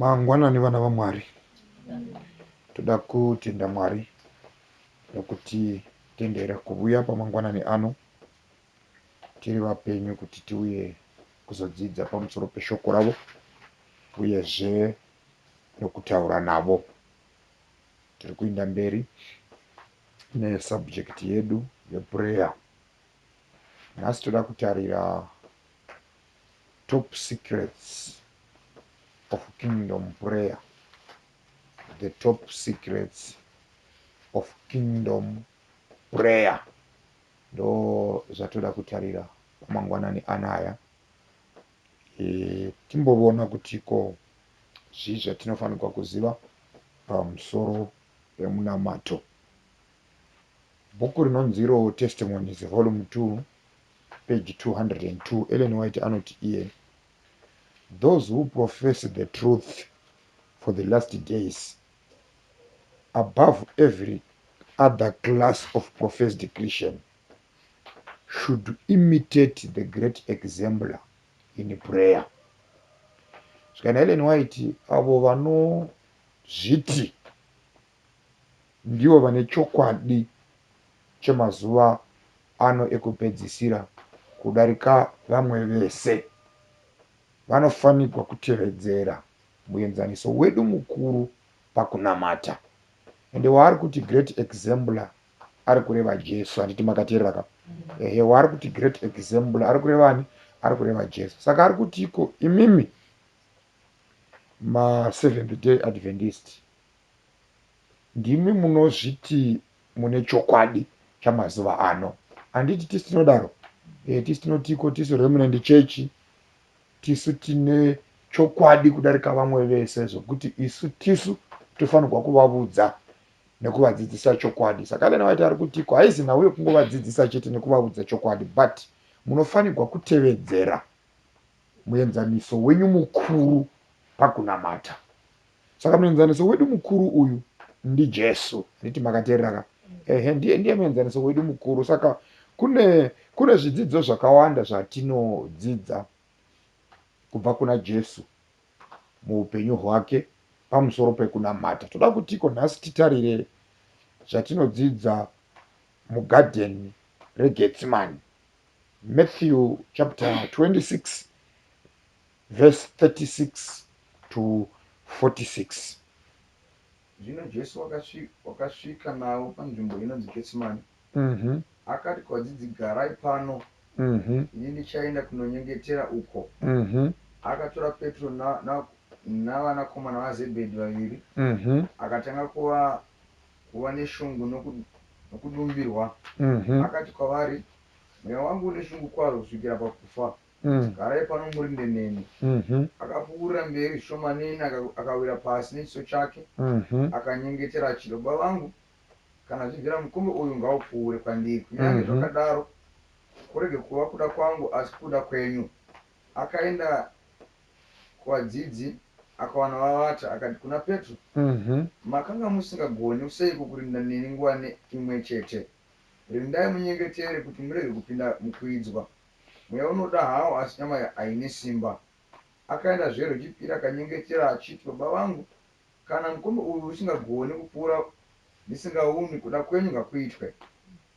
Mangwanani vana vaMwari, toda kutenda Mwari nokuti tendera kuvuya pamangwanani ano tiri vapenyu kuti tiuye kuzodzidza pamusoro peshoko ravo uyezve nokutaura navo. Tiri kuinda mberi nesubject yedu yeprayer. Nhasi toda kutarira Top secrets of kingdom prayer, the top secrets of kingdom prayer ndo zvatoda kutarira mangwanani anaya e, timbovona kuti ko zvii zvatinofanirwa kuziva pamusoro pemunamato. Bhuku rinonzi iro Testimonies Volume 2 peji 202 Ellen White anoti iye, Those who profess the truth for the last days above every other class of professed Christian should imitate the great exemplar in prayer. Zvikana Ellen White avo vanozviti ndivo vane chokwadi chemazuva ano ekupedzisira kudarika vamwe vese. Vanofanirwa kutevedzera muenzaniso wedu mukuru pakunamata. Ende waari kuti great exemplar ari kureva Jesu. Handiti makateerera ka? Ehe, waari kuti great exemplar ari kureva ani? Ari kureva Jesu. Saka ari kuti iko imimi maSeventh Day Adventist Ndimi munozviti mune chokwadi chamazuva ano. Handiti tisu tinodaro? E, tisu tinotiko tisu Remnant Church tisu tine chokwadi kudarika vamwe vese zvokuti isu tisu tofanirwa kuvavudza nekuvadzidzisa chokwadi. Saka Elena White ari kutiko haizi nhau yekungovadzidzisa chete nekuvavudza chokwadi but munofanirwa kutevedzera muenzaniso wenyu mukuru pakunamata. Saka muenzaniso wedu mukuru uyu ndiJesu. Handiti makateereraka? Ehe, ndiye ndiye muenzaniso wedu mukuru. Saka kune kune zvidzidzo zvakawanda zvatinodzidza kubva kuna Jesu muupenyu hwake pamusoro pekunamata. Toda kutiko nhasi titarire zvatinodzidza mugadheni regetsimani matthew chapter 26 Verse 36 to 46 Zvino Jesu wakasvika, wakasvika navo panzvimbo inonzi Getsemani, mm -hmm. akati kuvadzidzi, Garai pano, mm -hmm. ini ndichaenda kunonyengetera uko. Mm -hmm. Akatora Petro na, na, navanakomana vaZebhedhi vaviri, mm -hmm. akatanga kuva, kuva neshungu noku, nokudumbirwa, mm -hmm. akati kwavari, Mweya wangu une shungu kwazvo kusvikira pakufa. Garai pano murinde neni. Akapfuurira mberi zvishomanene akawira pasi nechiso chake akanyengetera achiti, Baba vangu, kana zvibvira mukombe uyu ngaupfuure kwandiri, kunyange zvakadaro kurege kuva kuda kwangu asi kuda kwenyu. Akaenda kuvadzidzi akawana vavata akati kuna Petro, Makanga musingagoni seiko kurinda neni nguva imwechete? Rindai munyengetere kuti murege kupinda mukuidzwa. Mweya unoda hawo asi nyama haine simba. Akaenda zve Rwechipiri akanyengetera achiti, Baba vangu, kana mukombe uyu usingagoni kupfuura ndisingaumwi, kuda kwenyu ngakuitwe.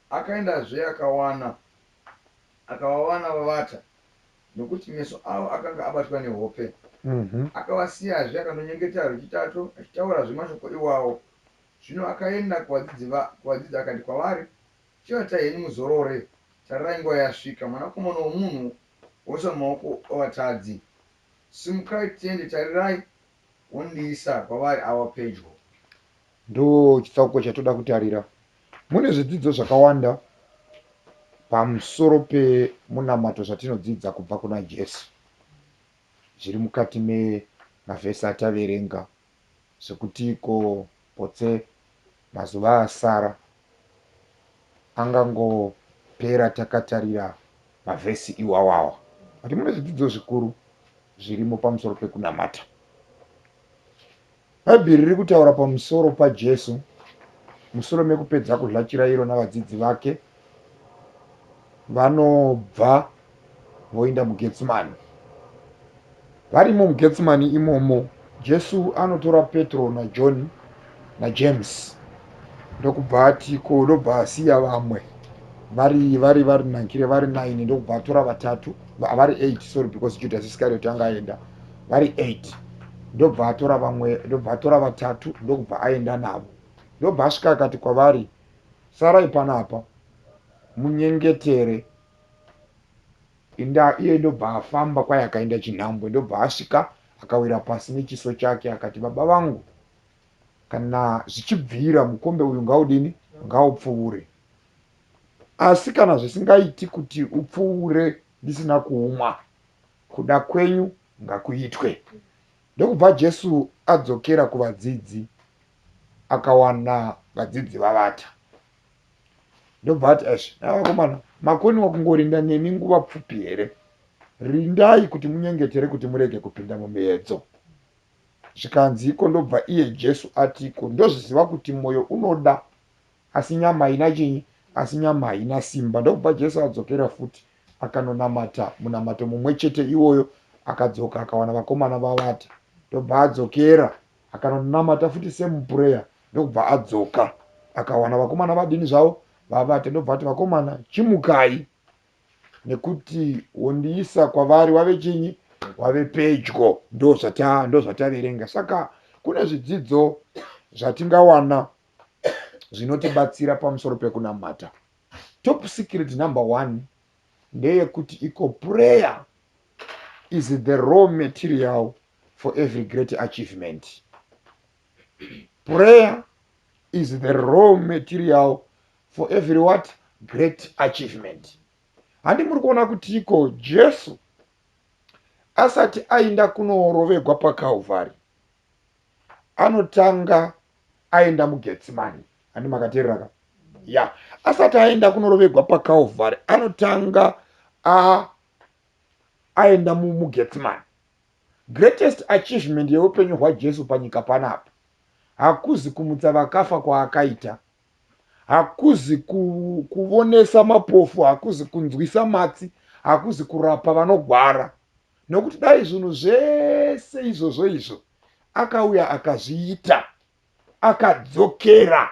Akaenda zve akawana, akavawana vavata, nokuti meso avo akanga abatwa nehope. Akavasiya zve akanonyengetera rwechitatu, achitaura zve mashoko iwawo. Zvino akaenda kuvadzidzi, kuvadzidzi akati kwavari, Chivatai henyu muzorore, tarirai nguva yasvika, mwanakomana womunhu woiswa mumaoko avatadzi. Simukai tiende, tarirai, wondiisa kwavari awa pedyo. Ndochitsauko chatoda kutarira. Mune zvidzidzo zvakawanda pamusoro pemunamato zvatinodzidza kubva kuna Jesu zviri mukati memavhesi ataverenga zvekuti ko potse mazuva asara angangopera takatarira mavhesi iwawawa. But mune zvidzidzo zvikuru zvirimo pamusoro pekunamata. Bhaibheri riri kutaura pamusoro paJesu musure mekupedza kuzha chirairo navadzidzi vake vanobva voenda mugetsimani varimo mugetsimani imomo jesu anotora petro najohn najames ndokubva atiko ndobva asiya vamwe vari vari vari nankire vari 9 ndokubva atora vatatu vari 8 sorry because judas iscariot anga aenda vari 8 ndobva atora vamwe ndobva atora vatatu ndokubva aenda navo ndobva asvika akati kwavari sarai panapa munyengetere inda iye ndobva afamba kwaye akaenda chinhambwe ndobva asvika akawira pasi nechiso chake akati baba vangu kana zvichibvira mukombe uyu ngaudini ngaupfuure asi kana zvisingaiti kuti upfuure ndisina kuumwa kuda kwenyu ngakuitwe Ndokubva Jesu adzokera kuvadzidzi akawana vadzidzi vavata. Ndobva ati, Eish, vakomana, makoniwa kungorinda neni nguva pfupi here? Rindai kuti munyengetere kuti murege kupinda mumiedzo. Zvikanzi iko ndobva iye Jesu ati, Ko ndozviziva kuti mwoyo unoda Asi nyama haina chinyi? Asi nyama haina simba. Ndokubva Jesu adzokera futi akanonamata munamato mumwe chete iwoyo. Akadzoka akawana vakomana vavata. Ndokubva adzokera akanonamata futi same prayer. Ndokubva adzoka akawana vakomana vadini zvavo? Vavata. Ndokubva ati, Vakomana, chimukai, nekuti wondiisa kwavari wave chinyi? Wave pedyo. Ndozvataverenga. Saka kune zvidzidzo zvatingawana zvinotibatsira pamusoro pekunamata top secret number one ndeyekuti iko prayer is the raw material for every great achievement prayer is the raw material for every what great achievement handi muri kuona kuti iko jesu asati ainda kunorovegwa pakalvari anotanga aenda mugetsimani handi makateerera ka ya asati aenda kunorovegwa pakalvari anotanga aenda mugetsimani greatest achievement yeupenyu hwajesu panyika panapa hakuzi kumutsa vakafa kwaakaita hakuzi kuvonesa mapofu hakuzi kunzwisa matsi hakuzi kurapa vanogwara nokuti dai zvinhu zvese izvozvo izvo akauya akazviita akadzokera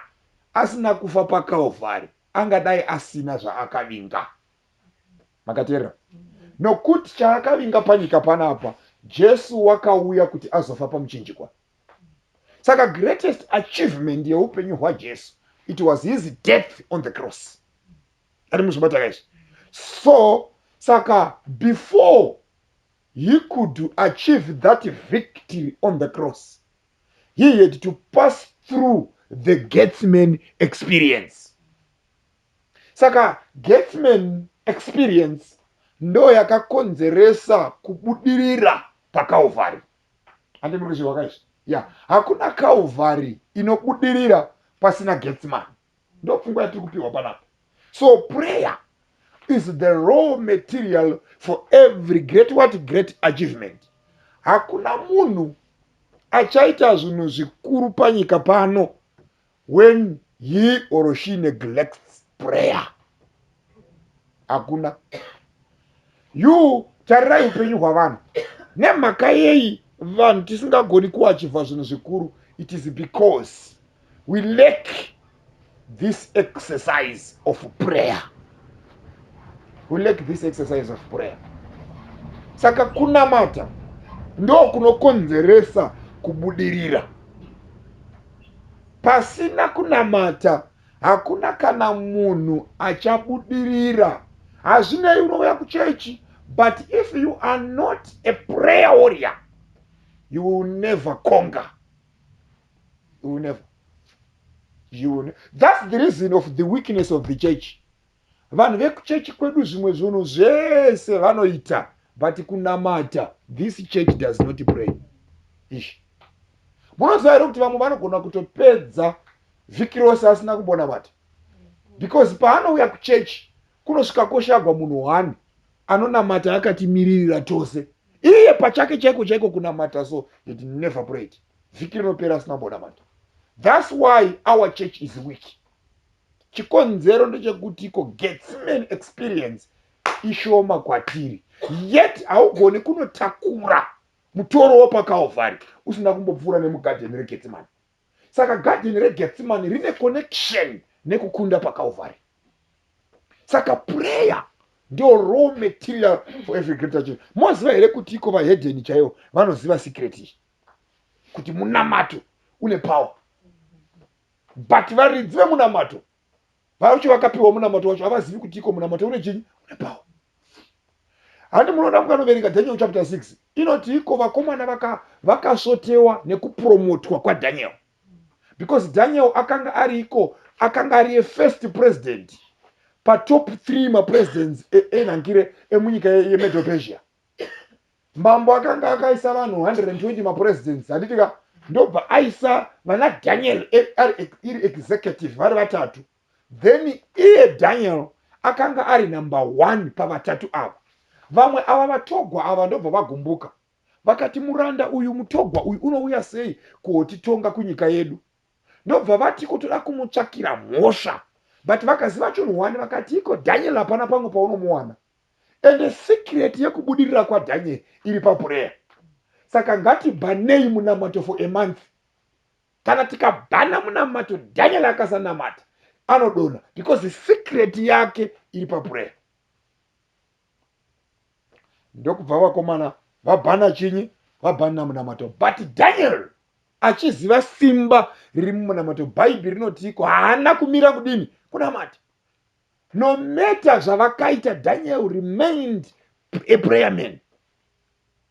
asina kufa pakalvari angadai asina zvaakavinga makateerera nokuti chaakavinga panyika panapa jesu wakauya kuti azofa pamuchinjikwa saka greatest achievement yeupenyu hwajesu it was his death on the cross ari muzvibata guys so saka before he could achieve that victory on the cross he had to pass through the gatsman experience saka gatsman experience ndo yakakonzeresa kubudirira pakalvari handi muri kuchirwa kaizvi ya hakuna kalvari inobudirira pasina gatsman ndopfungwa yatiri kupihwa panapa so prayer is the raw material for every great what great achievement hakuna munhu achaita zvinhu zvikuru panyika pano when he or she neglects prayer hakuna you tarirai upenyu hwavanhu nemhaka yeyi vanhu tisingagoni kuachivha zvinhu zvikuru it is because we lack this exercise of prayer we lack this exercise of prayer saka kunamata ndokunokonzeresa kubudirira pasina kunamata hakuna kana munhu achabudirira hazvinei unouya kuchechi but if you are not a prayer warrior you will never conga you will never you will ne that's the reason of the weakness of the church vanhu vekuchechi kwedu zvimwe zvunhu zvese vanoita but kunamata this church does not pray ish munoziva here kuti vamwe vanogona kutopedza vhiki rose asina kumbona mata because paanouya kuchechi kunosvika koshagwa munhu one anonamata akatimiririra tose iye pachake chaiko chaiko kunamata so it never prayed vhiki rinopera asina kumbonamata thats why our church is weak chikonzero ndechekuti ko getsimane experience ishoma kwatiri yet haugoni kunotakura mutoro wepakaovhari usina kumbopfuura nemugadheni regetsimane saka gadheni regetsimane rine connection nekukunda pakaovhari saka prayer ndio raw material for every greater change moziva here kuti iko vahedheni chaivo vanoziva secret iyi kuti munamato une power but varidzi vemunamato vacho vakapiwa munamato wacho havazivi kuti iko munamato une chinyi une pawa handi munoda mukanoverenga daniel chapter 6 inoti iko vakomana vakasvotewa vaka nekupromotwa kwadaniel because daniel akanga ari iko akanga ari efirst president patop 3 mapresidents enhangire e, e emunyika yemedopesia mambo akanga akaisa vanhu 120 mapresidents handiti ka ndobva aisa vana daniel iri executive vari vatatu then iye daniel akanga ari number one pavatatu ava vamwe ava vatogwa ava ndobva vagumbuka vakati muranda uyu mutogwa uyu unouya sei kuotitonga kunyika yedu ndobva vati kutoda kumutsvakira mhosva but vakaziva chunhu wani vakati iko daniel hapana pangu paunomuwana ende secret yekubudirira kwaDaniel iri paprayer saka ngatibhanei munamato for a month kana tikabhana munamato Daniel akasanamata anodona because secret yake iri paprayer ndokubva vakomana vabhana chinyi vabhana munamato but Daniel achiziva simba riri mumunamato bhaibheri rinotiiko haana kumira kudini kunamata no matter zvavakaita daniel remained a prayer man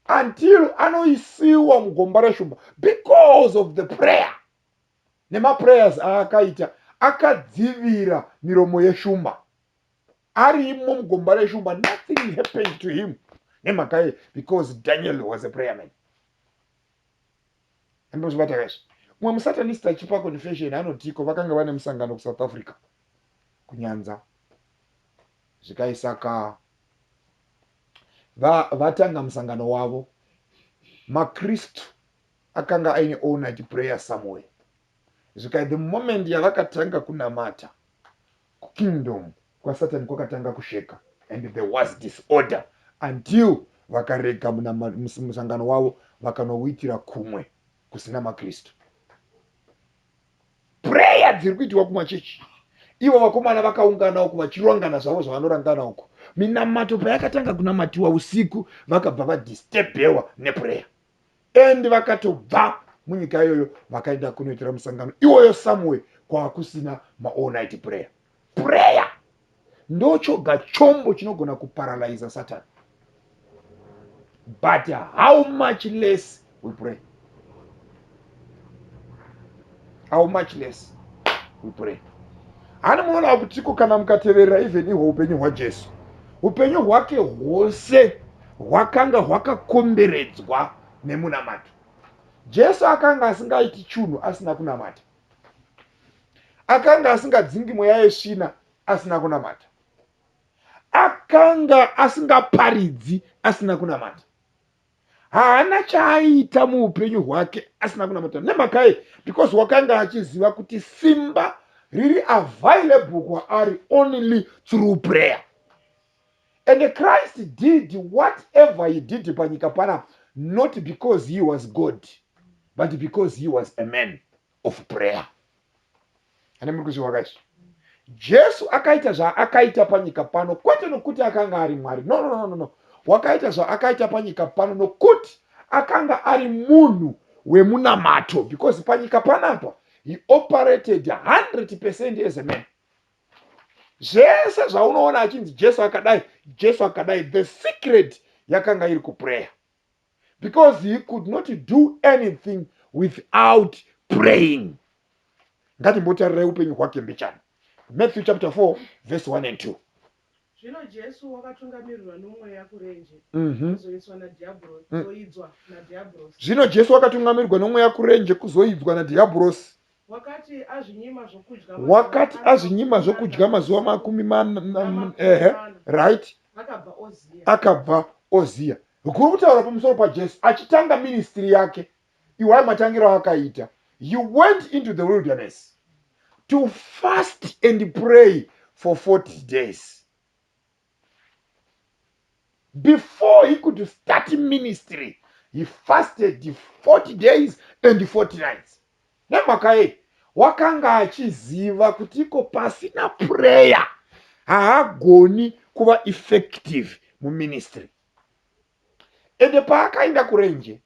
until anoisiwa mugomba reshumba because of the prayer nemaprayers aakaita akadzivira miromo yeshumba arimo mugomba reshumba nothing happened to him nemhaka ye because daniel was a prayer man andozvibata kazvi mumwe musatanist achipa confession anotiko vakanga vane musangano kusouth africa kunyanza zvikaisaka vatanga musangano wavo makristu akanga aine onat prayer somewhere zvikai the moment yavakatanga kunamata KuKingdom kwaSatan kwakatanga kusheka and there was disorder until vakarega musangano wavo vakanouitira kumwe kusina maKristu. Prayer dziri kuitirwa kumachechi ivo vakomana vakaungana uku vachirongana zvavo zvavanorangana uku minamato payakatanga kunamatiwa usiku vakabva vadisturbewa neprayer and vakatobva munyika iyoyo vakaenda kunoitira musangano iwoyo somewhere kwakusina maall night prayer prayer ndochoga chombo chinogona kuparalyza satani but how much less we pray how much less we pray hani muonawo kutiko kana mukateverera even ihwo upenyu hwajesu upenyu hwake hwose hwakanga hwakakomberedzwa nemunamato jesu akanga asingaiti chunhu asina kunamata akanga asingadzingi mweya yesvina asina kunamata akanga asingaparidzi asina kunamata haana chaaiita muupenyu hwake asina kunamata nemakai because wakanga achiziva kuti simba riri available kwaari only through prayer and christ did whatever he did panyika pana not because he was god but because he was a man of prayer hana muri kuziva guys jesu akaita zvaakaita panyika pano kwete nokuti akanga ari mwari no no no no no wakaita zvaakaita panyika pano nokuti akanga ari munhu wemunamato because panyika panapa he operated 100 percent as a man zvese zvaunoona achinzi jesu akadai jesu akadai the secret yakanga iri kuprayer because he could not do anything without praying ngatimbotarira upenyu hwake mbichana matthew chapter 4 verse 1 and 2 zvino jesu wakatungamirirwa nomweya kurenje mhm. kuzoidzwa nadhiabhurosi mm. zvino jesu wakatungamirirwa nomweya kurenje kuzoidzwa nadhiabhurosi wakati azvinyima zvokudya mazuva makumi mana ehe right akabva oziya Kuri kutaura pamusoro paJesu achitanga ministry yake. Iwai matangiro aakaita. He went into the wilderness to fast and pray for 40 days. Before he could start ministry, he fasted 40 days and 40 nights. Nemhaka yei? Wakanga achiziva kuti iko pasina prayer haagoni kuva effective muministry. ende paakaenda kurenje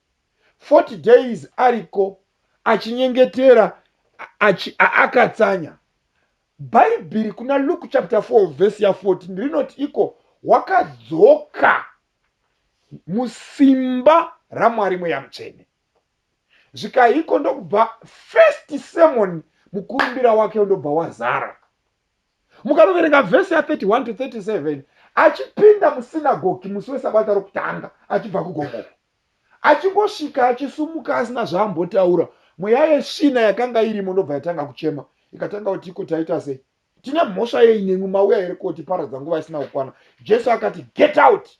40 days ariko achinyengetera akatsanya bhaibhiri kuna luke chapter 4 vhesi ya14 rinoti iko wakadzoka musimba ramwari mweya mutsvene zvikaiko ndokubva first sermon mukurumbira wake ndobva wazara mukanoverenga vhesi ya31 to 37 achipinda musinagogi musi wesabata rokutanga achibva kugomo achingosvika achisumuka asina zvaambotaura mweya yesvina yakanga irimo ndobva yatanga kuchema ikatanga kuti iko taita sei tine mhosva yei nemwi mauya here kotiparadza nguva isina kukwana jesu akati get out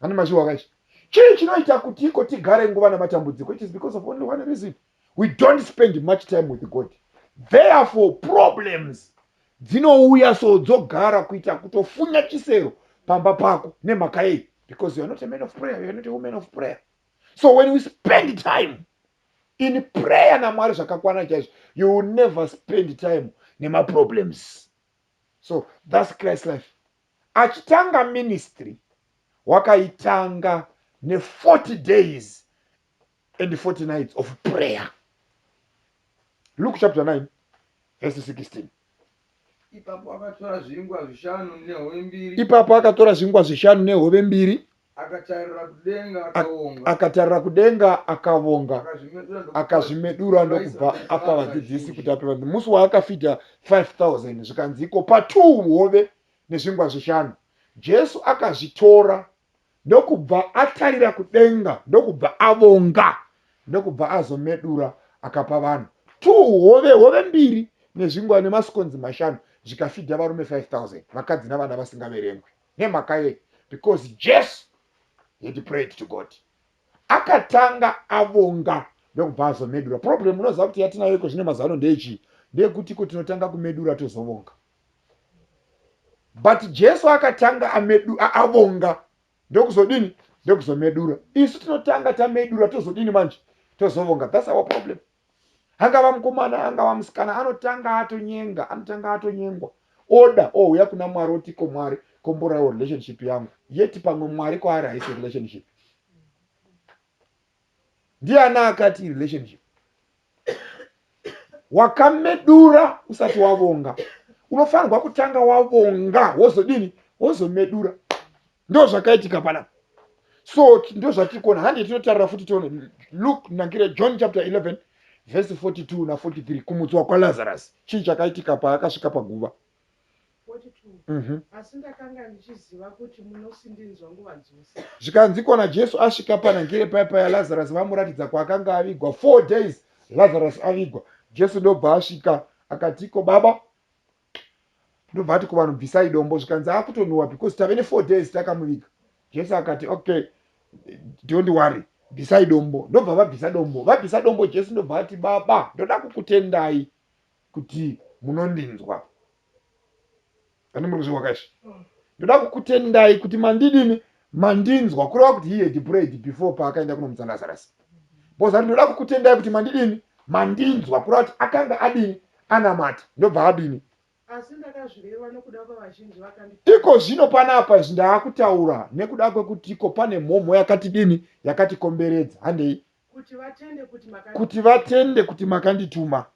Ani mashuwa kachi. Chii chinoita kuti iko tigare nguva namatambudziko? It is because of only one reason. We don't spend much time with God. Therefore problems dzinouya so dzogara kuita kutofunya chisero pamba pako nemhaka yei? Because you are not a man of prayer, you are not a woman of prayer. So when we spend time in prayer namwari zvakakwana chaizvo you will never spend time nemaproblems so thus christ life achitanga ministry wakaitanga ne40 days and 40 nights of prayer luke chapter 9 verse 16 ipapo akatora zvingwa zvishanu nehove mbiri ipapo akatora zvingwa zvishanu nehove mbiri Akatarira kudenga Ak- akaonga. akatarira kudenga akavonga Akazvimedura ndokupa- akazvimedura ndokubva Vaisa- apa vaisa vadzidzisi vazhinji. kuti ape vanhu musi waakafidha 5000 zvikanzi iko patuu hove nezvingwa zvishanu jesu akazvitora ndokubva atarira kudenga ndokubva avonga ndokubva azomedura akapa vanhu tuu hove hove mbiri nezvingwa nemasikonzi mashanu zvikafidha varume 5000 vakadzi navana vasingaverengwi nemhaka yei because jesu had prayed to god akatanga avonga ndokubva azomedura problem unoziva kuti yatinayo iko zvine mazuva ano ndeyechii ndeyekuti iko tinotanga kumedura tozovonga but jesu akatanga amedu, avonga ndokuzodini ndokuzomedura isu tinotanga tamedura tozodini manje tozovonga thats our problem angava mukomana angava musikana anotanga atonyenga anotanga atonyengwa oda ouya kuna mwari oti ko mwari komborawo relationship yangu yeti pamwe mwari kwaari haisi relationship ndiana akati relationship wakamedura usati wavonga unofanirwa kutanga wavonga wozodini wozomedura ndozvakaitika panapa so ndozvatiri kuona hande tinotarira futi tione luk nangire john chapter 11 vhesi 42 na43 kumutswa kwalazarus chii chakaitika paakasvika paguva mhm. zvikanzikwa najesu asvika panangire paya paya lazarus vamuratidza kwaakanga avigwa four days lazarus avigwa jesu ndobva asvika akatiko baba ndobva ati kuvanhu bvisai dombo zvikanzi akutonhuwa because tave nefour days takamuviga jesu akati okay don't worry bvisai dombo ndobva vabvisa dombo vabvisa dombo jesu ndobva ati baba ndoda kukutendai kuti munondinzwa ani muri kuzvihwakaizvi ndoda kukutendai kuti mandidini mandinzwa kureva kuti he had prayed before paakaenda kunomutsa lazarus bcause ari ndoda kukutendai kuti mandidini mandinzwa kureva kuti akanga adini anamata ndobva adini iko zvino panapa izvi ndaakutaura nekuda kwekuti iko pane mhomho yakati dini yakatikomberedza handei kuti vatende kuti makandituma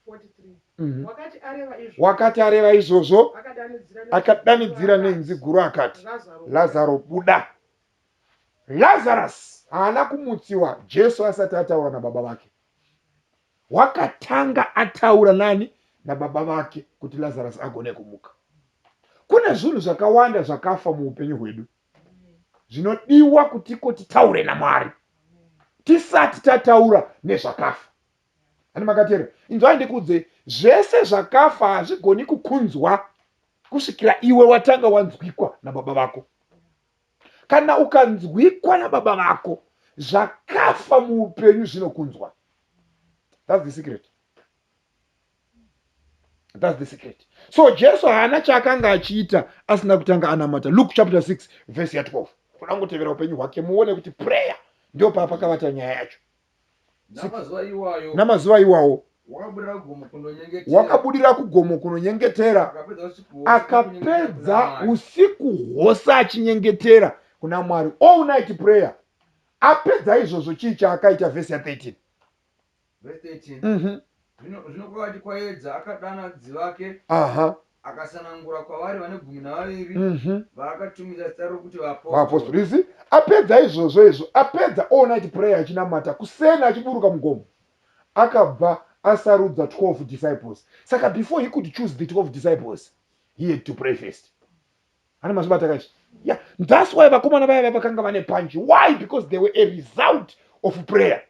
43 wakati areva izvozvo, wakati areva izvozvo akadanidzira nenzwi akadanidzira guru nenzwi akati, guru akati Lazaro, lazaro buda lazarus haana kumutsiwa jesu asati ataura nababa vake wakatanga ataura nani nababa vake kuti lazarus agone kumuka kune zvinhu zvakawanda zvakafa muupenyu hwedu zvinodiwa kutiko titaure namwari tisati tataura nezvakafa Ani makateerera? Inzwai ndikuudzei, zvese zvakafa hazvigoni kukunzwa kusvikira iwe watanga wanzwikwa nababa vako. Kana ukanzwikwa nababa vako, zvakafa muupenyu zvinokunzwa. That's the secret. That's the secret. So Jesu haana chaakanga achiita asina kutanga anamata. Luke chapter 6 verse ya 12. Kuda kutevera upenyu hwake muone kuti prayer ndio paapakavata nyaya yacho. namazuva iwawo wakabudira kugomo kunonyengetera akapedza usiku hwose achinyengetera kuna mwari all night prayer apedza izvozvo chii chaakaita vhesi ya 13 mhm. zvino kwakati kwaedza akadana dzivake aha Akasanangura kwavari vane gumi navaviri Mhm. vaakatumidza zita rokuti vaapostora. vaapostori you see apedza izvozvo izvo apedza all night prayer achinamata kuseni achiburuka mugomo akabva asarudza 12 disciples saka before he could choose the 12 disciples he had to pray first ana mazvibata kanje yeah that's why vakomana vaya vaya vakanga vane panji why because they were a result of prayer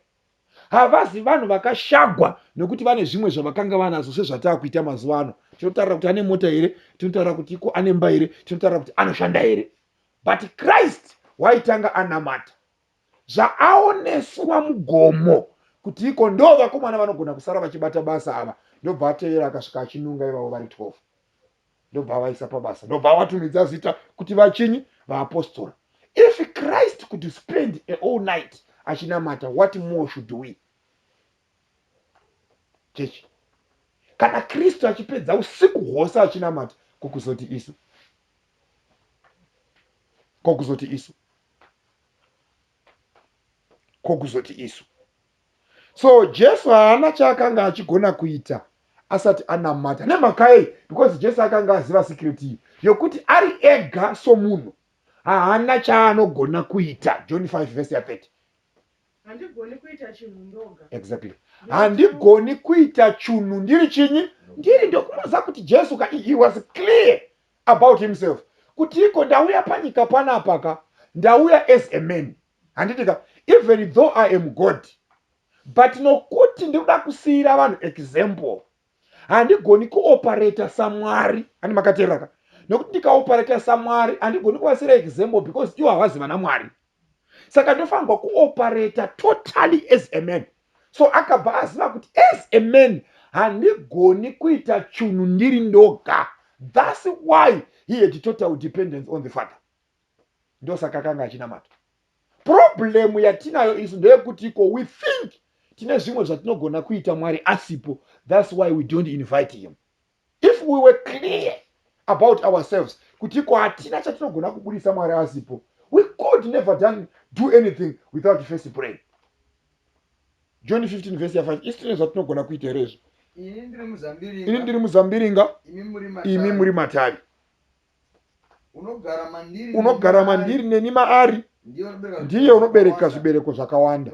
havazi vanhu vakashagwa nekuti vane zvimwe zvavakanga vanazo sezvataa kuita mazuva ano tinotaura kuti ane mota here tinotaura kuti iko ane mba here tinotaura kuti anoshanda here but christ waitanga anamata zvaaoneswa mugomo kuti iko ndo vakomana vanogona kusara vachibata basa ava ndobva atevera akasvika achinunga ivavo vari 12 ndobva avaisa pabasa ndobva avatumidza zita kuti vachinyi vaapostora if christ could spend a all night achinamata what more should we chechi kana kristu achipedza usiku hwose achinamata kokuzoti isu kokuzoti isu kokuzoti isu so jesu haana chaakanga achigona kuita asati anamata nemhakayei because jesu akanga aziva sikireti iyi yokuti ari ega somunhu haana chaanogona kuita john 5 vese ya 30 handigoni kuita chinhu ndoga exactly handigoni kuita chunhu ndiri chinyi ndiri ndokunoziva kuti jesu ka he was clear about himself kuti iko ndauya panyika panapaka ndauya as a man handiti ka even though i am god but nokuti ndiri kuda kusiyira vanhu example handigoni kuoperata samwari ani makateeraka nokuti ndikaoperata samwari handigoni kuvasiyira example because iwo havazi vana mwari saka ndofanirwa kuoperata totally as a man so akabva aziva kuti as a man handigoni kuita chunhu ndiri ndoga thus why he had total dependence on the father ndosaka akanga achinamata problem yatinayo isu ndeyekuti ko we think tine zvimwe zvatinogona kuita mwari asipo thats why we don't invite him if we were clear about ourselves kuti ko hatina chatinogona kubudisa mwari asipo we could never done do anything without first pray john 15 vese ya 5 isi tine zvatinogona kuita here izvo ini ndiri muzambiringa imi muri matavi unogara mandiri neni maari ndiye unobereka zvibereko zvakawanda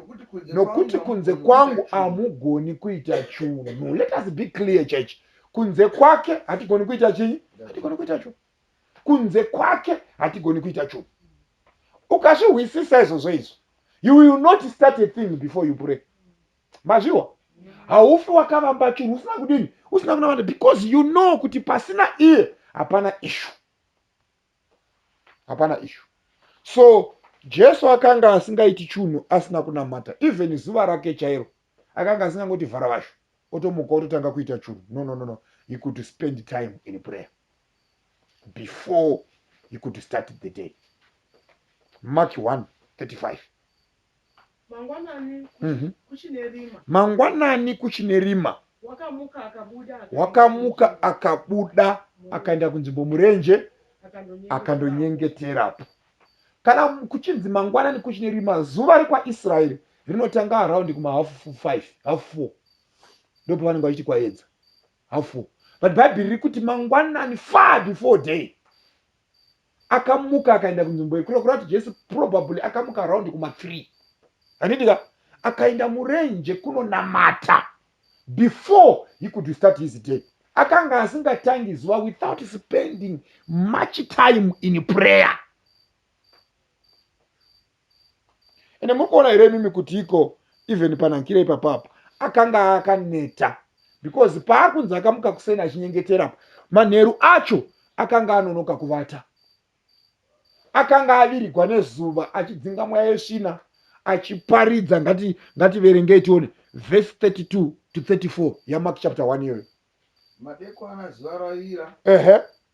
nokuti kunze kwangu hamugoni kuita chunhu let us be clear church kunze kwake hatigoni kuita chii hatigoni kuita chunhu kunze kwake hatigoni kuita chunhu ukazvihwisisa izvozvo izvo you will not start a thing before you pray mazviwa haufi wakavamba chunhu usina kudini usina kunamata because you know kuti pasina iye hapana ishu hapana ishu so jesu akanga asingaiti chunhu asina kunamata even zuva rake chairo akanga asingangoti vhara vasho otomuka ototanga kuita chunhu no no no no he could spend time in prayer before he could start the day mark 1 35 Mangwanani Mhm. kuchine rima. mangwanani kuchine rima Wakamuka akabuda. akaenda wakamuka kunzvimbo, akabuda akaenda kunzvimbo murenje akandonyengetera. akandonyengeterapo kana mu- kuchinzi mangwanani kuchine rima zuva rekwaisraeri rinotanga araundi kumahafu 5 hafu 4 ndipo vanenge vachiti kwaedza hafu 4 but bhaibheri riri kuti mangwanani far before day akamuka akaenda kunzvimbo yekure kureva kuti jesu probably akamuka around kumathree handidika akaenda murenje kunonamata before he could start his day akanga asingatangi zuva without spending much time in prayer ende muri kuona here imimi kuti iko even panankira ipapapo akanga akaneta because paakunzi akamuka kuseni achinyengeterapo manheru acho akanga anonoka kuvata akanga avirigwa nezuva achidzinga mweya yesvina achiparidza ngati ngativerengei tione vhesi 32 to 34 yamak chapter 1 iyoyo madekwana zuva ravira ehe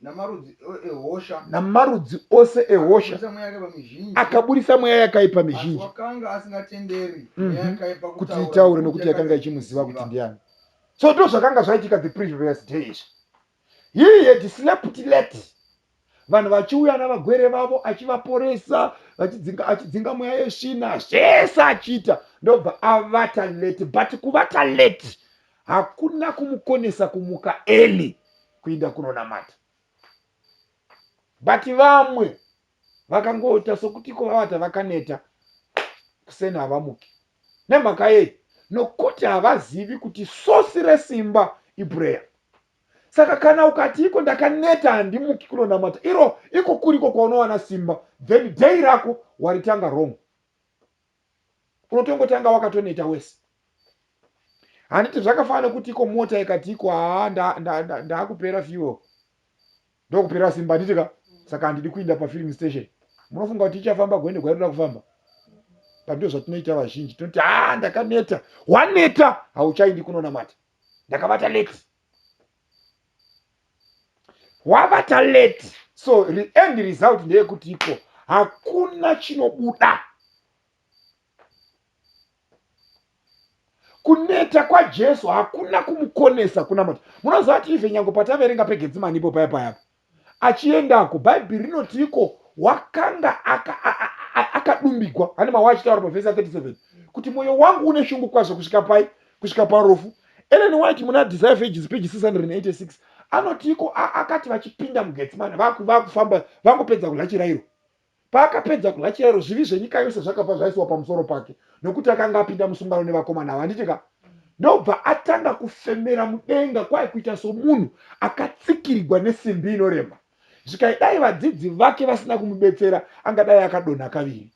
namarudzi ehosha namarudzi ose ehosha akaburitsa mweya yakaipa mizhinji mhm. kuti itaure nokuti yakanga ichimuziva kuti ndiani so ndo zvakanga zvaitika the previous day izvi he had slept late vanhu vachiuya navagwere vavo achivaporesa achidzinga mweya yesvina zvese achiita ndobva avata late but kuvata late hakuna kumukonesa kumuka eli kuinda kunonamata but vamwe vakangoita sokuti iko vavata vakaneta kuseni havamuki nemhaka yei nokuti havazivi kuti sosi resimba ibreya saka kana ukati iko ndakaneta handimuki kunonamata iro iko kuriko kwaunowana simba then dei rako waritanga wrong unotongotanga wakatoneta wese handiti zvakafanana kuti iko mota ikati iko haa ndaakupera nda, nda fuel ndokupera simba handiti ka saka handidi kuinda pafilling station munofunga kuti ichafamba gwende gwainoda kufamba pandio zvatinoita vazhinji tinoti haa ndakaneta waneta hauchaindi kunonamata ndakabata leti wavata late so end result ndeyekuti iko hakuna chinobuda kuneta kwajesu hakuna kumukonesa kuna mati munoziva kuti ive nyango pataverenga pegetsimani ipo paya payapa achiendako bhaibheri rinoti iko wakanga akadumbigwa ane mawa achitaura pavhesi ya 37 kuti mwoyo wangu une shungu kwazvo kusvika pai kusvika parufu ellen white muna desire fages page 686 anotiiko akati vachipinda mugetsimani vakufamba vangopedza kudya chirairo paakapedza kudya chirairo zvivi zvenyika yose zvakabva zvaisiwa pamusoro pake nokuti akanga apinda musungano nevakomana ava handiti ka ndobva atanga kufemera mudenga kwaye kuita somunhu akatsikirigwa nesimbi inorema zvikaidai vadzidzi vake vasina kumubetsera angadai akadonha kaviri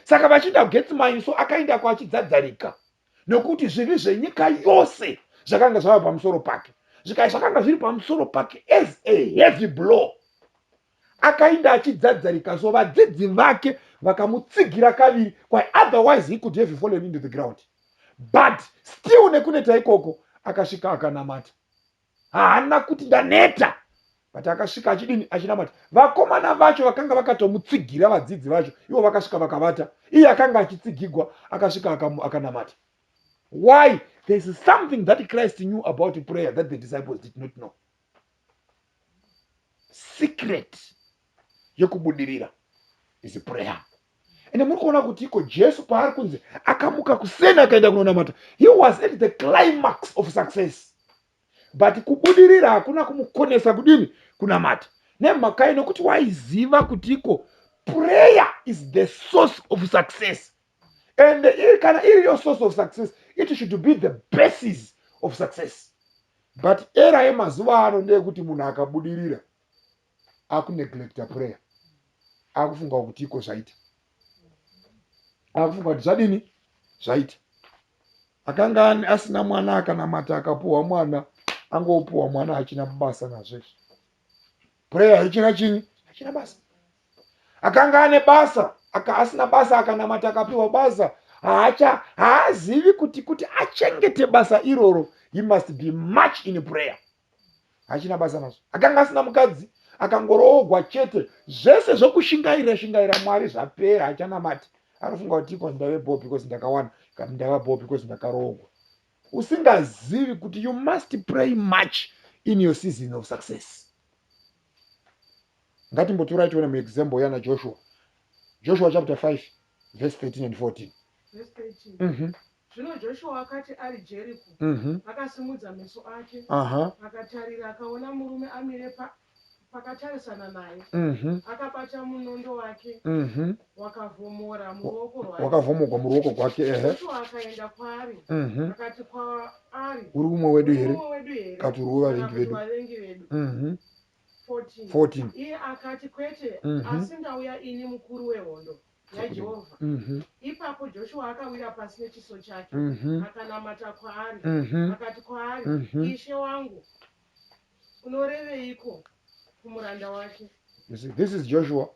saka vachiinda kugetsimai so akaindako achidzadzarika nokuti zvivi zvenyika yose zvakanga zvava pamusoro pake zvikai zvakanga zviri pamusoro pake as a heavy blow akainda achidzadzarika so vadzidzi vake vakamutsigira kaviri kwa otherwise he could have fallen into the ground but still nekuneta ikoko akasvika akanamata haana kuti ndaneta but akasvika achidini achinamata vakomana vacho vakanga vakatomutsigira vadzidzi vacho ivo vakasvika vakavata iye akanga achitsigigwa akasvika akanamata why there is something that christ knew about prayer that the disciples did not know secret yekubudirira is prayer ende muri kuona kuti iko jesu paari kunzi akamuka kuseni akaenda kunonamata he was at the climax of success but kubudirira hakuna kumukonesa kudini kunamata nemhakai nokuti waiziva kuti iko prayer is the source of success and iri kana iri yo source of success it should be the basis of success but era yemazuva ano ndeyekuti munhu akabudirira akuneglecta prayer akufunga kuti iko zvaita akufunga kuti zvadini zvaita akanga asina mwana akanamata akapuhwa mwana angopuhwa mwana achina basa nazvezvo prayer haichina chini hachina basa akanga ane basa aka asina basa akanamata akapiwa basa haacha haazivi kuti kuti achengete basa iroro he must be much in prayer hachina basa nazvo akanga asina mukadzi akangoroogwa chete zvese zvekushingairira shingaira mwari zvapera achanamati anofunga kuti iko ndave bo because ndakawana kati ndava bo because ndakaroogwa usingazivi kuti you must pray much in your season of success ngatimbotorai tione muexample yana joshua joshua chapter 5 verse 13 and 14 mm -hmm. Zvino Joshua akati ari Jeriko, akasimudza meso ake, akatarira, akaona murume amire pa, pakatarisana naye, akabata munondo wake wakavhomora muruoko rwake, wakavhomogwa muruoko gwake, ehe, Joshua akaenda kwaari, akati kwaari, uri umwe wedu here? Akati uri wevavengi vedu. 14. Iye akati, Kwete, asi ndauya ini mukuru wehondo. yaJehovha. Mhm. Ipapo Joshua akawira pasi nechiso chake, Mhm. akanamata kwaari, Mhm. akati kwaari, Mhm. Ishe wangu, unoreveiko kumuranda wake? You see, this is Joshua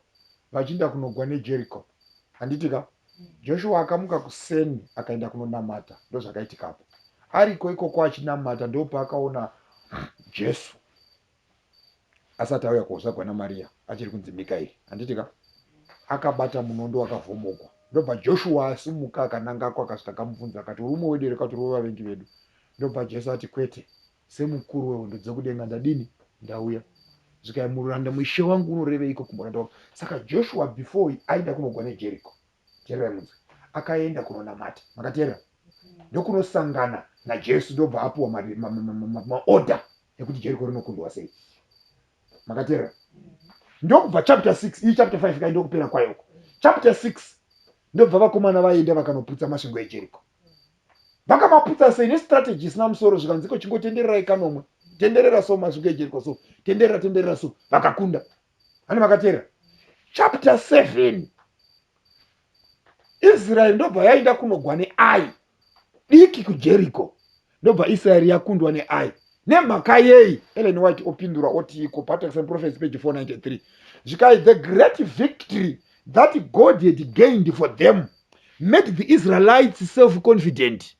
vachiinda kunogwa neJericho. Handitika? Joshua akamuka kuseni akaenda kunonamata. Ndozvakaitikapo. Ariko ikoko achinamata ndopaakaona Jesu. asati auya kuzvagwa namariya achiri kunzi mikaeri handiti ka akabata munondo wakavhomogwa ndobva joshua asumuka akanangako akasvika akamubvunza akati uri umwe wedu here kati uri wevavengi vedu ndobva jesu ati kwete semukuru wehondo dzekudenga ndadini ndauya zvikai mururanda mushe wangu unoreveiko kumuranda wangu saka joshua before aida kunogwa nejeriko Teererai munzwe. Akaenda kunonamata. Makateerera? Ndokunosangana naJesu ndobva apuwa maorder ekuti Jeriko rinokundwa sei. Makateerera? Ndokubva chapter 6, iyi chapter 5 kai ndokupera kwayo uko. Chapter 6 ndobva vakomana vaenda vakanoputsa masvingo eJeriko. Vakamaputsa sei nestrategy isina musoro zvikanziko chingotendererai kanomwe. Tenderera so masvingo eJeriko so. Tenderera tenderera so. Vakakunda. vane vakateerera chapter 7 israeri ndobva yaenda kunogwa neai diki kujeriko ndobva israeri yakundwa neai nemhaka yei ellen white opindura oti iko patex and prophecy page 493 zvikai the great victory that god had gained for them made the israelites self confident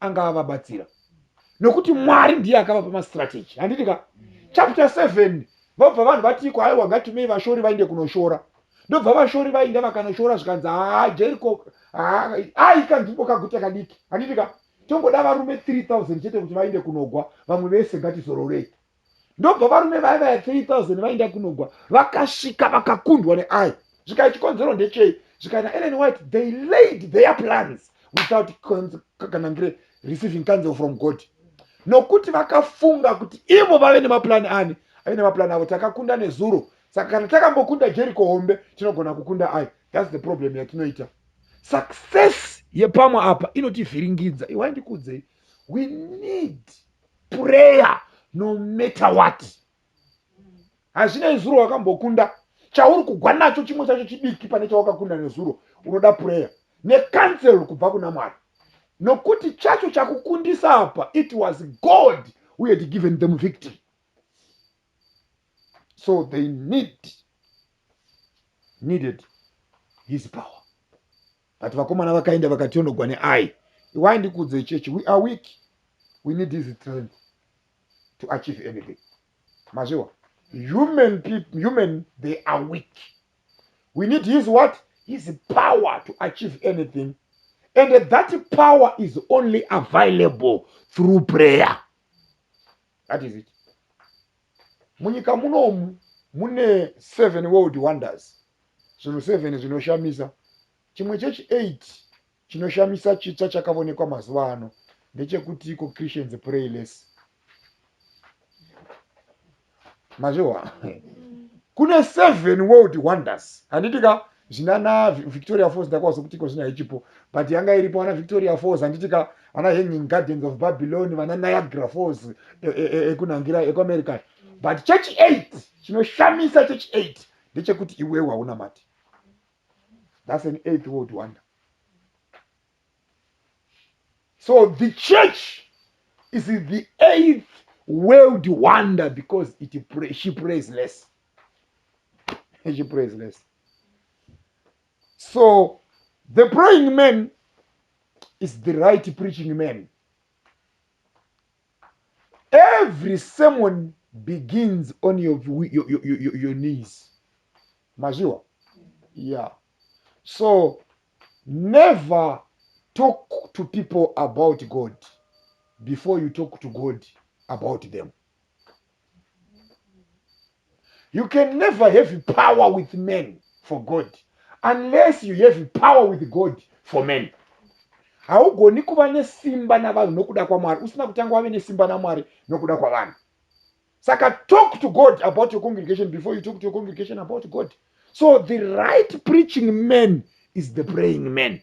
anga avabatsira nokuti mwari ndiye akavapa mastrategy handiti ka chapter 7 vobva vanhu vatiiko haiwa ngatumei vashori vainde kunoshora ndobva vashori vainda vakanoshora zvikanzi haa jeriko aika nzvimbo kaguta kadiki handiti ka tongoda varume 3000 chete kuti vainde kunogwa vamwe vese ngatizororei ndobva varume vaya vaya 3000 vaenda kunogwa vakasvika vakakundwa neai zvikai chikonzero ndechei zvikai naellen white they laid their plans without kanangire receiving council from god nokuti vakafunga kuti ivo vave nemaplan ani ave nemaplan avo takakunda nezuro saka kana takambokunda jeriko hombe tinogona kukunda ai thats the problem yatinoita success yepamwe apa inotivhiringidza iwai ndikuudzei we need prayer no matter what hazvina izuro wakambokunda chauri kugwa nacho chimwe chacho chidiki pane chawakakunda nezuro unoda prayer necancel kubva kuna mwari nokuti chacho chakukundisa apa it was god who had given them victory so they need needed his power but vakomana vakaenda vakationogwa neai iwai ndikuudzei chechi we are weak we need his strength to achieve anything mazviwa human people human they are weak we need his what his power to achieve anything and that power is only available through prayer that is it munyika munomu mune seven world wonders zvinhu seven zvinoshamisa chimwe chechi eight chinoshamisa chitsva chakavonekwa mazuva ano ndechekuti iko christians pray less mazviwa kune seven world wonders handiti ka zvinana victoria falls ndakwazo kutiko zvino haichipo but yanga iripo vana victoria falls handitika ana hanging gardens of babylon vana niagra falls ekunangira e, e, e ekuamerica but church eight chinoshamisa church eight ndechekuti iwewe hauna mati thats an eighth world wonder so the church is the eighth world wonder because it pray, she prays less echipraiseless so the praying man is the right preaching man every sermon begins on your, your, your, your, your knees mazviwa yeah so never talk to people about god before you talk to god about them You can never have power with men for God unless you have power with God for men. Haugoni kuva nesimba navanhu nokuda kwaMwari usina kutanga wave nesimba naMwari nokuda kwavanhu. Saka talk to God about your congregation before you talk to your congregation about God. So the right preaching man is the praying man.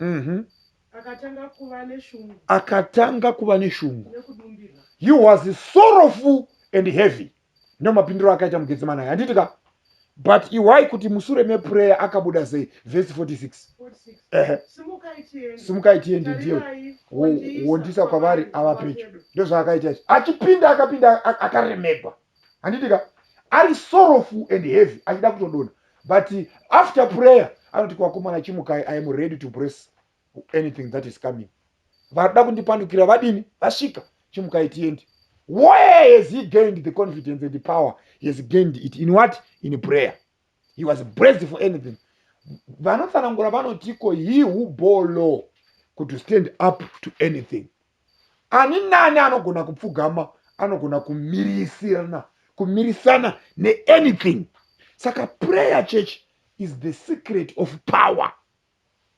Mhm. Akatanga kuva neshungu. Akatanga kuva neshungu. He was sorrowful and heavy. Ndino mapindiro akaita mugetsemani aya. Handiti ka? But iwai kuti musure meprayer akabuda sei? Verse 46. Ehe. Simukai tiende ndiyo. Wondisa kwavari ava pedyo. Ndozvaakaita ichi. Achipinda akapinda akaremegwa. handiti ka ari sorrowful and heavy achida kutodona but after prayer anoti kwakomana chimukai i am ready to brace anything that is coming varikuda kundipandukira vadini vasvika chimukai tiendi where has he gained the confidence and the power he has gained it in what in prayer he was braced for anything vanotsanangura vanotiko he who bore law could stand up to anything ani nani anogona kupfugama anogona kumirisirana kumirisana neanything saka prayer church is the secret of power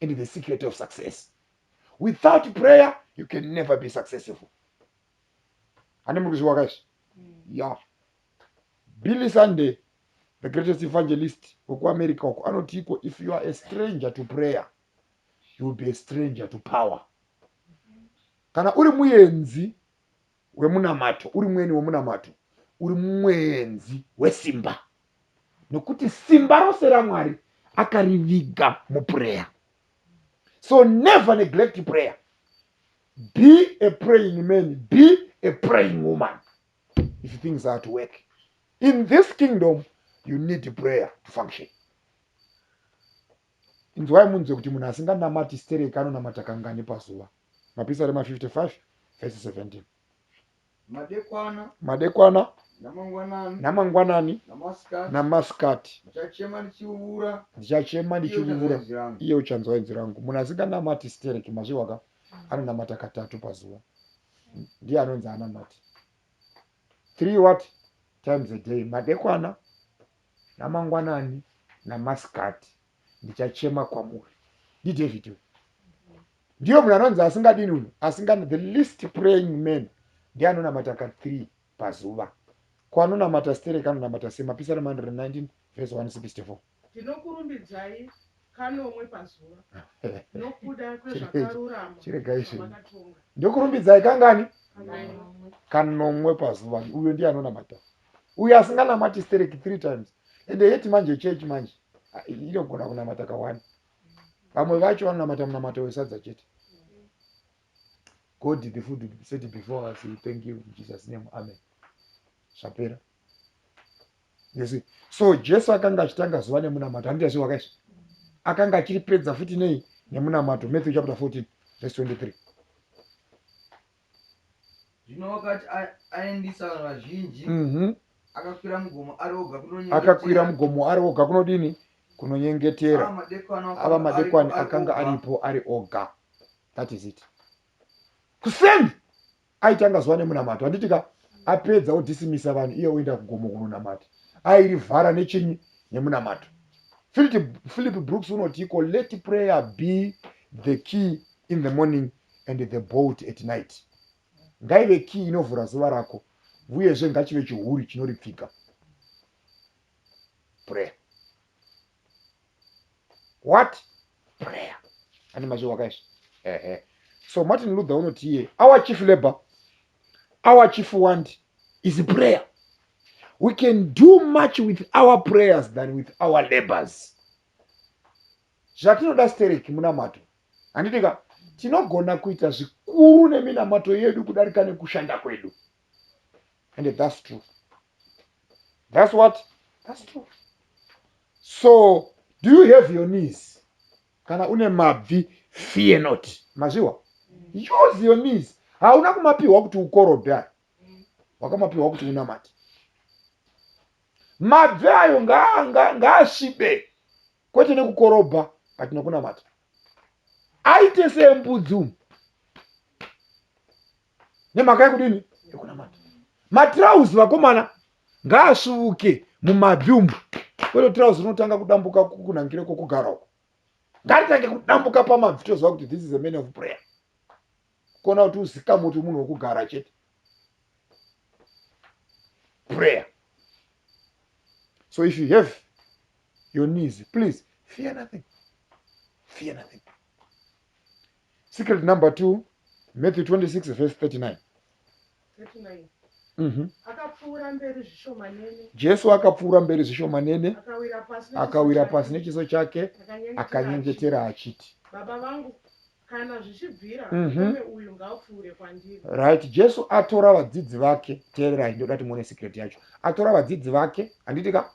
and the secret of success without prayer you can never be successful ane muri kuzviwaka izvi mm. ya yeah. billy sunday the greatest evangelist wekuamerica uko anotiiko if you are a stranger to prayer you will be a stranger to power kana uri muenzi wemunamato uri mweni wemunamato uri mwenzi wesimba nokuti simba rose ramwari akariviga muprayer so never neglect prayer be a praying man be a praying woman if things are to work in this kingdom you need prayer to function inzwai munzwe kuti munhu asinganamati stereki anonamata kangani pazuva mapisa rema 55 vese 17 madekwana madekwana namangwanani namasikati ndichachema ndichivuura iye uchanzwa inzwi rangu munhu asinganamati stereki mazvihwaka anonamata katatu pazuva ndiye anonzi anamati three what times a day madekwana namangwanani namasikati ndichachema kwamuri ndidavid uyu ndiyo munhu anonzi asingadini uno asingani the least praying man ndiye anonamata ka three pazuva. Ko anonamata stereki anonamata sei? Mapisarema 119 vhesi 164. Ndinokurumbidzai kanomwe pazuva nokuda kwezvakarurama Chiregai zvinhu. zvamakatonga. Ndokurumbidzai kangani? Kanomwe. kanomwe pazuva uyo ndiye anonamata uyo asinganamati stereki three times ende yeti manje chechi manje ah, inogona kunamata kawani vamwe vacho vanonamata munamato wesadza chete God the food will be set before us. We thank you in Jesus name. Amen. Zvapera. Yes. So Jesu akanga achitanga zuva nemunamato. Handiti zviro wakaisha. Akanga achiripedza futi nei nemunamato. Matthew chapter 14 verse 23. Zvino wakati aendisa vazhinji. Mhm. Mm akakwira mugomo ari oga kunonyengetera. Akakwira mugomo ari oga kunodini? Kunonyengetera. Ava madekwani akanga aripo ari oga. that is it kuseni aitanga zuva nemunamato handiti ka apedza odhisimisa vanhu iye oenda kugomo kunonamata airivhara nechinyi nemunamato philip brooks unotiiko let prayer be the key in the morning and the bolt at night ngaive key inovhura zuva rako uyezve ngachive chihuri chinoripfika prayer what prayer ane mazwi wakaizvi ehe so martin luther unoti iye our chief labor our chief want is prayer we can do much with our prayers than with our labors zvatinoda stereki munamato handiti ka tinogona kuita zvikuru neminamato yedu kudarika nekushanda kwedu and thats true thats what thats true so do you have your knees kana une mabvi fear not mazviwa use your knees hauna kumapiwa kuti ukorobhe ayo wakamapiwa kuti unamati mabvi ayo ngaasvibe kwete nekukorobha but nekunamata aite sembudzi umu nemhaka yekudini yekunamata matrauzi vakomana ngaasvuvuke mumadhumbu kwete trauzi rinotanga kudambuka kunangire kwokugara uko ngaritange kudambuka pamabvi toziva kuti this is a man of prayer kuona kuti uzikamu kuti munhu wekugara chete prayer so if you have your knees please fear nothing fear nothing secret number 2 matthew 26 verse 39 mhm. jesu akapfuura mberi zvishomanene akawira pasi nechiso chake akanyengetera achiti baba vangu kana zvichibvira mhm. murume uyu ngaapfuure kwandiri right jesu atora vadzidzi vake teererai ndoda kuti muone secret yacho atora vadzidzi vake handiti ka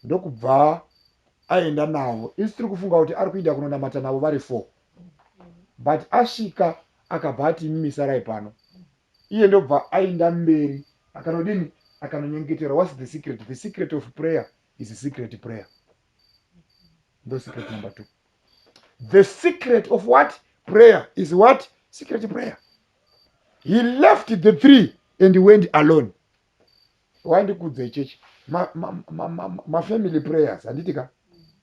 ndokubva aenda navo isi tiri kufunga kuti ari kuinda kunonamata navo vari four but asvika akabva ati imi misarai pano iye ndobva ainda mberi akanodini akanonyengetera whats the secret the secret of prayer is a secret prayer ndo secret number two the secret of what prayer is what secret prayer he left the three and went alone wandikudza ichechi mafamily ma, ma, ma, ma prayers handiti ka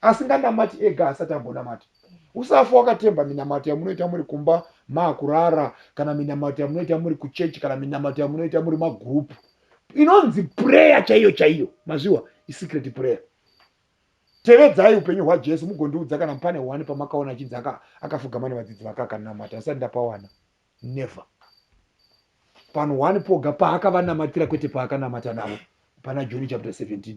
Asinganamati ega haasati ambonamata. Usafa wakatemba minamato yamunoita muri kumba maakurara kana minamato yamunoita muri kuchechi kana minamato yamunoita muri magurupu inonzi pureya chaiyo chaiyo mazviwa isecret pureya tevedzai upenyu hwajesu mugondiudza kana pane hwani pamakaona achinzi akafugama nevadzidzi vake akanamata asati ndapawana never panhu hwani poga paakavanamatira kwete paakanamata navo pana joni chapter 17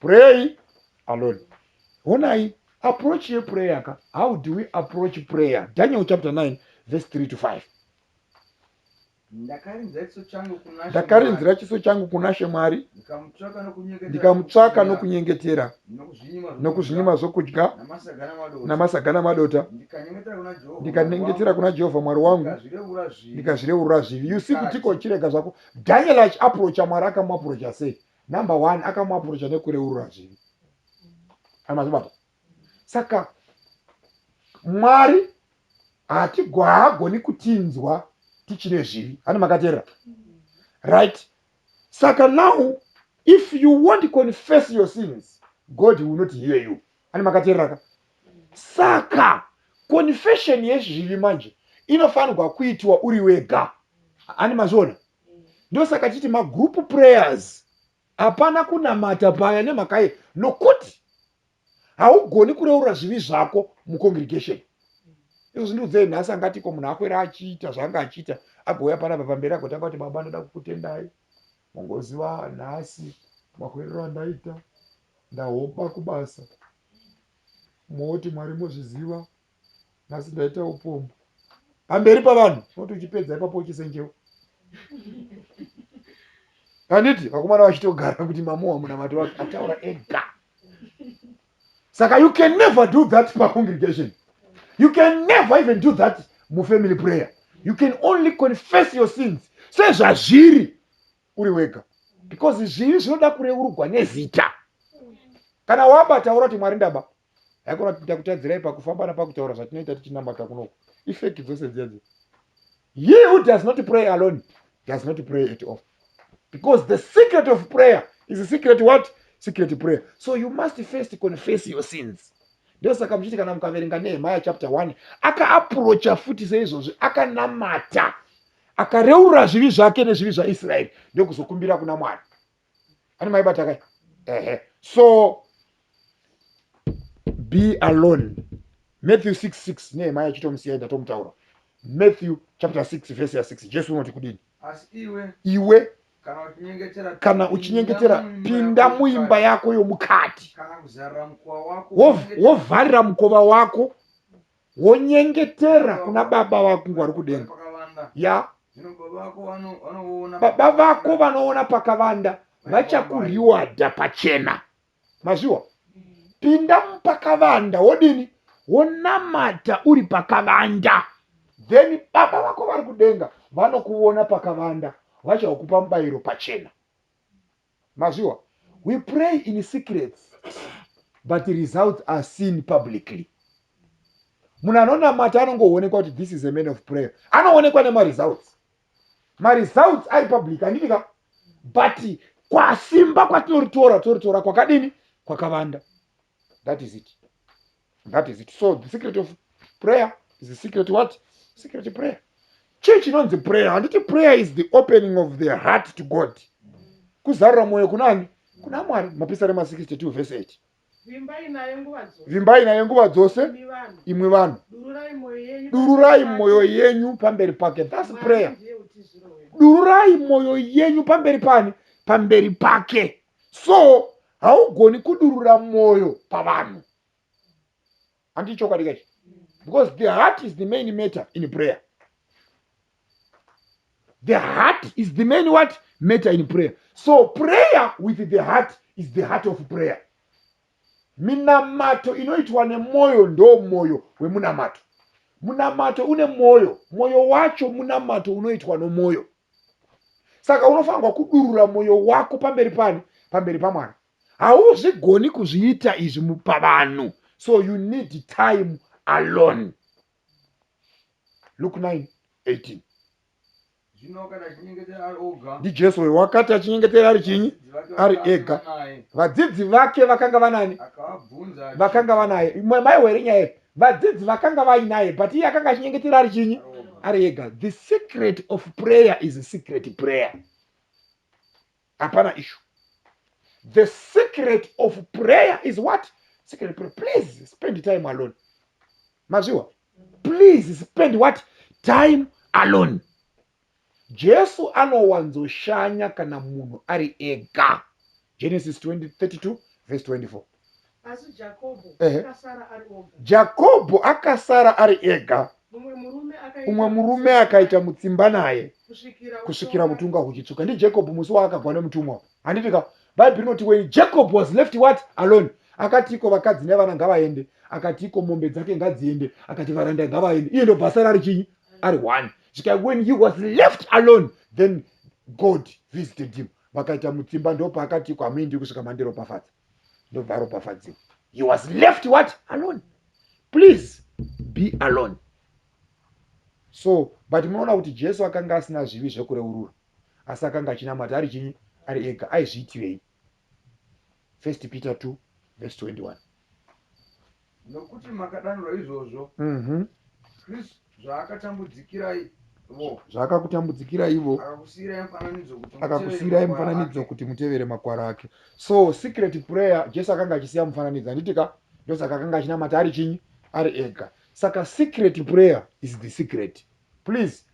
pray alone honai approach yeprayer ka how do we approach prayer daniel chapter 9 verse 3 to 5 ndakarinzira chiso changu kuna she mwari ndikamutsvaka nokunyengetera nokuzvinyima zvokudya namasaga namadota ndikanyengetera kuna jehovha mwari wangu ndikazvireurura zvivi usi kutiko chirega zvako daniel achiaprocha mwari akamuaprocha sei number one akamuapurocha nekureurura zvivi amazibaba saka mwari haagoni kutinzwa tichine zvivi hana makateerera right saka now if you won't confess your sins god will not hear you hana makateereraka saka confession yezvivi manje inofanirwa kuitwa uri wega ani mazviona ndosaka chiti magroup prayers hapana kunamata paya nemhakaye nokuti haugoni kureurura zvivi zvako mucongregation izvo zvindiudzei nhasi angatiko munhu akwera achiita zvaanga achiita agouya panapa pamberi agotanga kuti baba ndoda kukutendai mongoziva nhasi makwerero andaita ndahoba kubasa moti mwari mozviziva nhasi ndaita upombwe pamberi pavanhu unoti uchipedza ipapo uchisenjewa handiti vakomana vachitogara kuti mamowa munamato wake ataura ega saka you can never do that pacongregation you can never even do that mufamily prayer you can only confess your sins sezvazviri uri wega because zvivi zvinoda kureurugwa nezita kana waba taura kuti mwari ndaba haikona kuti takutadzirai pakufamba napakutaura zvatinoita tichinamata kunoku ifeki dzose dzedze ye who does not pray alone does not pray at all because the secret of prayer is a secret what secret prayer so you must first confess your sins ndosaka muchiti kana mukaverenga nehemaya chapter 1 akaaprocha futi seizvozvi akanamata akareurura zvivi zvake nezvivi zvaisraeri ndokuzokumbira kuna mwari ani maibata kai ehe so be alone matthew 66 nehema yachitomusiyai ndatomutaura matthew chapter 6 verse ya 6 jesu unoti kudini iwe kana uchinyengetera pinda muimba yako yomukati wovharira mukova wako wonyengetera kuna baba vako ngwari kudenga ya baba vako vanoona pakavanda vachakuriwadha pachena mazviwa pinda mupakavanda wodini wonamata uri pakavanda then baba vako vari kudenga vanokuona pakavanda vachakupa mubayiro pachena mazviwa we pray in secrets but results are seen publicly munhu anonamata anongoonekwa kuti this is a man of prayer anoonekwa nemaresults maresults ari public handiti ka but kwasimba kwatinoritora toritora kwakadini kwakavanda that is it that is it so the secret of prayer is the secret what secret prayer chii chinonzi prayer handiti prayer is the opening of the heart to god kuzarura mwoyo kunani kuna mwari mapisarema 62 vese 8 vimbai nayo nguva dzose imwe vanhu dururai mwoyo yenyu pamberi pake thats prayer dururai mwoyo yenyu pamberi pani pamberi pake so haugoni kudurura mwoyo pavanhu handi chokwadi kachi because the heart is the main matter in prayer the heart is the main what matter in prayer so prayer with the heart is the heart of prayer minamato inoitwa nemwoyo ndo mwoyo wemunamato munamato une mwoyo mwoyo wacho munamato unoitwa nomwoyo saka unofanirwa kudurura mwoyo wako pamberi pani pamberi pamwana hauzvigoni kuzviita izvi mupavanhu so you need time alone luk 9 18 ndijesu uyo wakati achinyengetera ari chinyi ari ega vadzidzi vake vakanga vanani vakanga vanaye maiwere nyaya vadzidzi vakanga vainaye but iye akanga achinyengetera ari chinyi ari ega the secret of prayer is secret prayer hapana issue the secret of prayer is what secret prayer please spend time alone mazviwa please spend what time alone Jesu anowanzoshanya kana munhu ari ega. Genesis 20:32 verse 24. Asi Jakobho Ehe. akasara ari oga. Jakobho akasara ari ega, Mumwe murume akaita umwe murume mutsipa akaita mutsimba naye kusvikira kusvikira utonga- utunga huchitsuka. NdiJacob musi waakagwa nemutumwa. Handiti ka? Bhaibheri rinoti when Jacob was left what? Alone. Akatiko vakadzi nevana ngavaende. Akatiko mombe dzake ngadziende. Akati varanda ngavaende. Iye ndobva asara ari chinyi? ari one zvika when he was left alone then god visited him vakaita mutsimba ndopaakati kwamuindi kusvika mandiropafadza ndobva aropafadziwa he was left what alone please be alone so but munoona kuti jesu akanga asina zvivi zvekureurura asi akanga achinamata ari chinyi ari ega aizviitirei First Peter 2 verse 21. Nokuti makadanirwa izvozvo, Mhm. Kristu zvaakatambudzikirai vo, Zvaakakutambudzikira ivo akakusiirai mufananidzo kuti mutevere akakusiirai makwara mufananidzo ake. kuti mutevere makwara ake so secret prayer jesu akanga achisiya mufananidzo handiti ka ndosaka akanga achinamata ari chinyi ari ega saka secret prayer is the secret please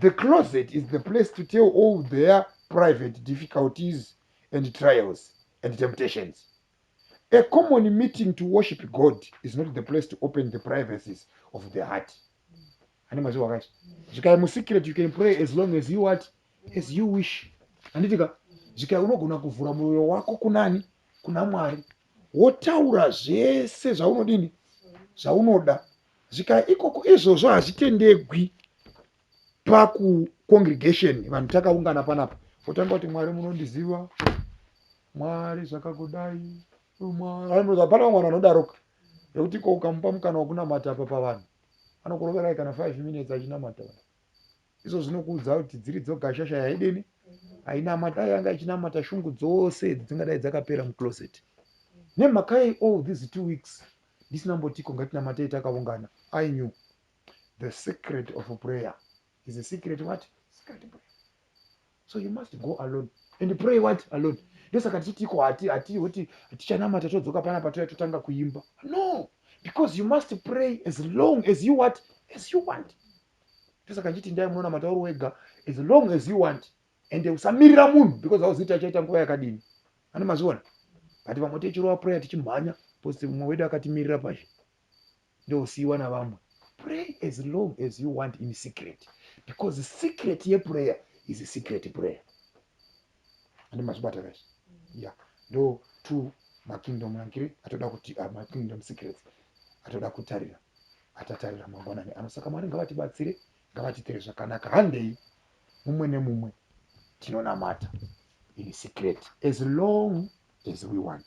the closet is the place to tell all their private difficulties and trials and temptations a common meeting to worship god is not the place to open the privacies of the heart ane mazivo akacho zvikai musecret you can pray as long as you what as you wish anditika zvikai unogona kuvhura mwoyo wako kunani kuna mwari wotaura zvese zvaunodini zvaunoda zvika ikoko izvozvo hazvitendegwi pakucongregation vanhu takaungana panapa otanga kuti mwari munondiziva mwari zvakakudai hapana vamwe vanhu vanodaroka nekuti ko ukamupa mukana wekunamata apa pavanhu anokuroverai kana five minutes achinamata vanhu Izvo zvinokuudza kuti dziri dzoga shasha yaEdeni ainamata yanga ichinamata shungu dzose dzingadai dzakapera mucloset. Nemhaka yei all these two weeks ndisina mbotiko ngatinamatei takaungana? I knew the secret of prayer is a secret what? Secret prayer. So you must go alone and pray what? Alone. Ndosaka tichitiko hati hati hoti tichanamata todzoka pana patouya totanga kuimba. No, because you must pray as long as you what? As you want. ndosaka ndichiti ndai munoona matauro wega as long as you want and usamirira munhu because hauzivi kuti achaita nguva yakadini ani mazviona but vamwe tichirova prayer tichimhanya because mumwe wedu akatimirira pazvi ndousiiwa navamwe pray as long as you want in secret because secret yeprayer is secret prayer ande mazvibata guys ya ndo two makingdom ankiri atoda kuti uh, makingdom secrets atoda kutarira atatarira mangwanani ano saka mwari ngavatibatsire ngavatitere zvakanaka handei mumwe nemumwe tinonamata in secret as long as we want